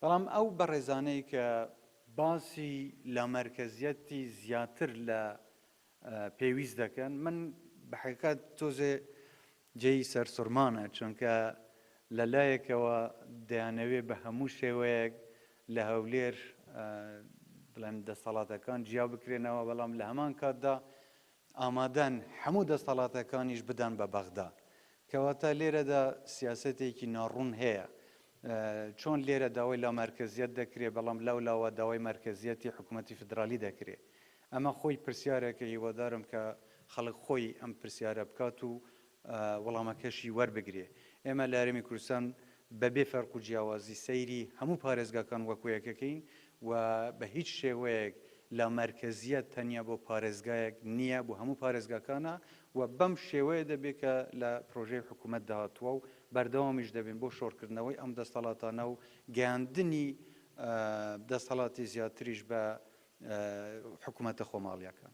بەڵام ئەو بەڕێزانەی کە باسی لامەرکەزیەتی زیاتر لە پێویست دەکەن من بەحقیقەت تۆزێ جێی سەرسوڕمانە چونکە لە لایەکەوە دەیانەوێ بە هەموو شێوەیەک لە هەولێر بڵێن دەسەڵاتەکان جیا بکرێنەوە بەڵام لە هەمان کاتدا ئامادەن هەموو دەستەڵاتەکانیش بدەن بە بەغدا. کەواتە لێرەدا سیاسەتێکی ناڕوون هەیە. چۆن لێرە داوای لامەرکەزیەت دەکرێ بەڵام لەو لاوە داوای مەرکەزیەتی حکومەتی فیدرالی دەکرێ؟ ئەمە خۆی پرسیارێکە هیوادارم کە خەڵک خۆی ئەم پرسیارە بکات و وەڵامەکەشی وەربگرێ. ئێمە لە هەرێمی کوردستان بە بێ فەرق و جیاوازی سەیری هەموو پارێزگاکان وەکوو یەکەکەین و بە هیچ شێوەیەک لامەرکەزییەت تەنیا بۆ پارێزگایەک نییە، بۆ هەموو پارێزگاکانە و بەم شێوەیە دەبێ کە لە پرۆژەی حکوومەتدا هاتووە و بەردەوامیش دەبین بۆ شۆڕکردنەوەی ئەم دەستەڵاتانە و گەیاندنی دەستەڵاتی زیاتریش بە حکوومەتە خۆماڵییەکان.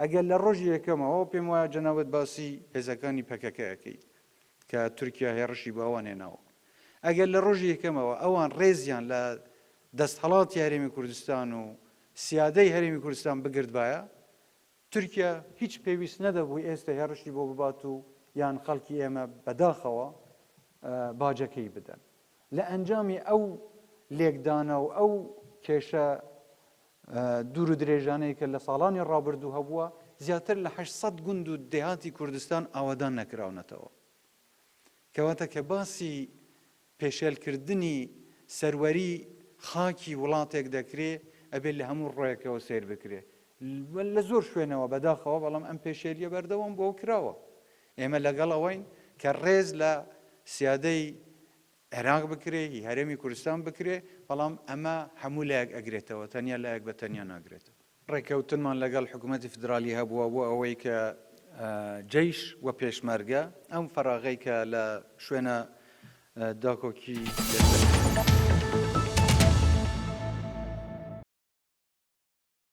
ئەگەر لە ڕۆژی یەکەمەوە پێم وایە جەنابت باسی هێزەکانی پەکەکە ئەکەیت کە تورکیا هێڕشی بۆ ئەوان هێناوە. ئەگەر لە ڕۆژی یەکەمەوە ئەوان ڕێزیان لە دەستهەڵاتی هەرێمی کوردستان و سیادەی هەرێمی کوردستان بگردبایە، تورکیا هیچ پێویست نەدەبوو ئێستە هێڕشی بۆ ببات و یان خەڵکی ئێمە بەداخەوە باجەکەی بدەن. لە ئەنجامی ئەو لێکدانە و ئەو کێشە دوور و درێژانەی کە لە ساڵانی ڕابردوو هەبووە، زیاتر لە هەشت سەد گوند و دێهاتی کوردستان ئاوەدان نەکراونەتەوە. کەواتە کە باسی پێشێلکردنی سەروەری خاکی وڵاتێک دەکرێ، ئەبێ لە هەموو ڕوێکەوە سەیر بکرێ. لە زۆر شوێنەوە بەداخەوە بەڵام ئەم پێشێلییە بەردەوام بووە و کراوە. ئێمە لەگەڵ ئەوەین کە ڕێز لە سیادەی عێراق بکرێ هی هەرێمی کوردستان بکرێ، بەڵام ئەمە هەموو لایەک ئەگرێتەوە تەنیا لایەک بە تەنیا ناگرێتەوە. ڕێککەوتنمان لەگەڵ حکوومەتی فیدرالی هەبووە بۆ ئەوەی کە جەیش و پێشمەرگە ئەم فەراغەی کە لە شوێنە داکۆکی لەسەر